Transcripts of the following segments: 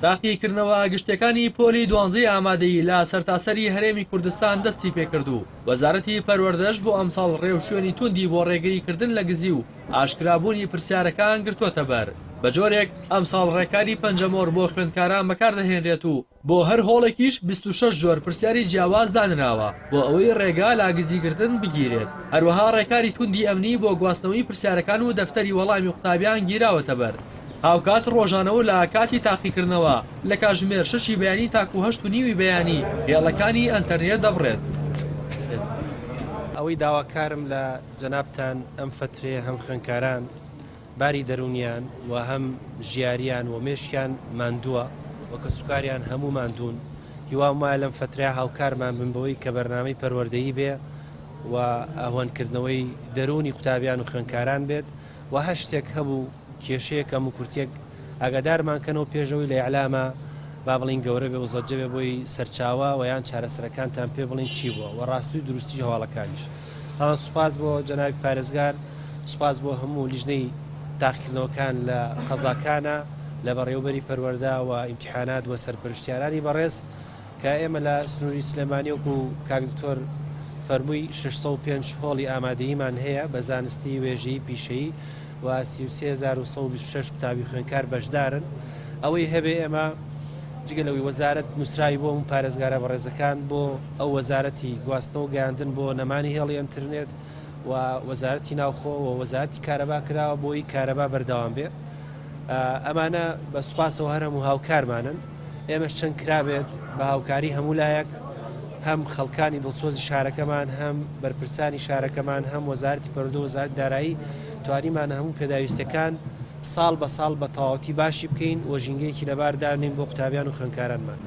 تاقیکردنەوە گشتیەکانی پۆلی دوانزەی ئامادەیی لە سەرتاسەری هەرێمی کوردستان دەستی پێکرد و وەزارەتی پەروەردەش بۆ ئەمساڵ ڕێوشوێنی توندی بۆ ڕێگری کردن لە گزی و ئاشکرابوونی پرسیارەکان گرتووەتەبەر بەجۆرێک ئەمساڵ ڕێکاری پەنجەمۆر بۆ خوێندکاران بەکاردەهێنرێت و بۆ هەر هۆڵێکیش بیست و شەش جۆر پرسیاری جیاواز دانراوە بۆ ئەوەی ڕێگا لە گزیکردن بگیرێت، هەروەها ڕێکاری توندی ئەمنی بۆ گواستنەوەی پرسیارەکان و دەفتەری وەڵامی قوتابیان گیراوەتەبەر. هاوکات ڕۆژانە و لە کاتی تاقیکردنەوە لە کاتژمێر شەشی بەیانی تاکوو هەشت و نیوی بەیانی هێڵەکانی ئەنتەرنێت دەبڕێت. ئەوەی داواکارم لە جەنابتان ئەم فەترەیە هەم خوێندکاران باری دەروونیان و هەم ژیاریان و مێشکیان ماندووە و کەسوکاریان هەموو ماندوون هیوام وایە لەم فەترەیە هاوکارمان بن بەوەی کە بەرنامەی پەروەردەیی بێ و ئەهوەنکردنەوەی دەروونی قوتابیان و خوێنکاران بێت و هەر شتێک هەبوو کێشەیە کەم و کورتێک ئاگادارمان کەنەوە پێشەوەی لە ئیعلامە با بڵین گەورە بێ و زەجە بێ بۆی سەرچاوە و یان چارەسەرەکانتان پێ بڵین چی بووە و ڕاستی و دروستی هەواڵەکانیش بەڵام سوپاس بۆ جەنابی پارێزگار سوپاس بۆ هەموو لیژنەی تاقیکردنەوەکان لە قەزاکانە لە بەڕێوبەری پەروەەردە و ئیمتحانات و سەرپەرشتیارانی بەڕێز کە ئێمە لە سنووری سلێمانیۆک و کاکدکتۆر فەرمووی 605 هۆڵی ئامادەیمان هەیە بە زانستی وێژەی پیشەی و سی و سێ هەزار و سەد و بیست و شەش قوتابی خوێندکار بەشدارن ئەوەی هەبێ ئێمە جگە لەوەی وەزارت نووسراوی بۆ ئەم پارێزگارە بەڕێزەکان بۆ ئەو وەزارەتی گواستنەوە گەیاندن بۆ نەمانی هێڵی ئەترنێت و وەزارەتی ناوخۆ و وەزارەتی کارەبا کراوە بۆی کارەبا بەردەوام بێ ئەمانە بە سوپاسەوە هەرم و هاوکارمانن ئێمەش چەند کرابێت بە هاوکاری هەموو لایەک هەم خەڵکانی دڵسۆزی شارەکەمان هەم بەرپرسانی شارەکەمان هەم وەزارتی پەرودە وەزارت دارایی توانیمانە هەموو پێداویستەکان ساڵ بە ساڵ بە تەواوەتی باشی بکەین و ژینگەیەکی لەبار دانێین بۆ قوتابیان و خوێنکارانمان.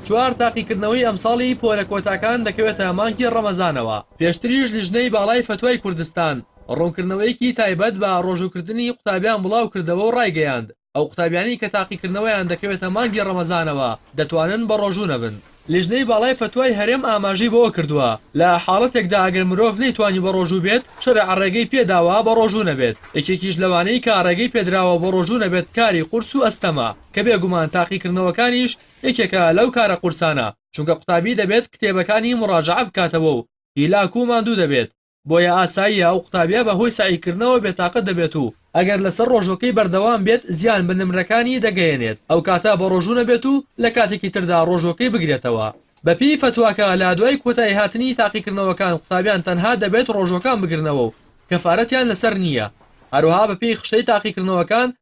چوار تاقیکردنەوەی ئەمساڵی پۆلە کۆتاکان دەکەوێتە مانگی ڕەمەزانەوە، پێشتریش لیژنەی باڵای فەتوای کوردستان ڕوونکردنەوەیەکی تایبەت بە ڕۆژووکردنی قوتابیان بڵاوکردەوە و ڕایگەیاند، ئەو قوتابیانەی کە تاقیکردنەوەیان دەکەوێتە مانگی ڕەمەزانەوە دەتوانن بەڕۆژوو نەبن. لیژنەی باڵای فەتوای هەرێم ئاماژەی بەوەکردووە، لە حاڵەتێکدا ئەگەر مرۆڤ نەیتوانی بەڕۆژوو بێت شەرع ڕێگەی پێداوە بەڕۆژوو نەبێت، یەکێکیش لەوانەی کە ڕێگەی پێدراوە بەڕۆژوو نەبێت کاری قورس و ئەستەمە، کە بێگومان تاقیکردنەوەکانیش یەکێکە لەو کارە قورسانە، چونکە قوتابی دەبێت کتێبەکانی مڕاجەعە بکاتەوە و هیلاک و ماندوو دەبێت. بۆیە ئاساییە ئەو قوتابیە بە هۆی سەعیکردنەوە بێتاقەت دەبێت و ئەگەر لەسەر ڕۆژوەکەی بەردەوام بێت زیان بە نمرەکانی دەگەیەنێت ئەو کاتە بەڕۆژوو نەبێت و لە کاتێکی تردا ڕۆژوەکەی بگرێتەوە. بە پێی فەتواکە لە دوای کۆتایی هاتنی تاقیکردنەوەکان قوتابیان تەنها دەبێت ڕۆژوەکان بگرنەوە و کەفارەتیان لەسەر نییە هەروەها بە پێی خشتەی تاقیکردنەوەکان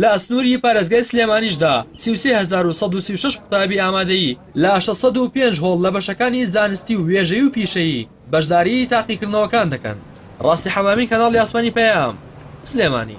لە ئەسنووری پارێزگای سلێمانیشدا سی و سێ هەزار و سەد و سی و شەش قوتابی ئامادەیی لە شەش سەد و پێنج هۆڵ لە بەشەکانی زانستی و وێژەیی و پیشەیی بەشداریی تاقیکردنەوەکان دەکەن. ڕاستی حەمامی کەناڵی ئاسمانی پەیام، سلێمانی.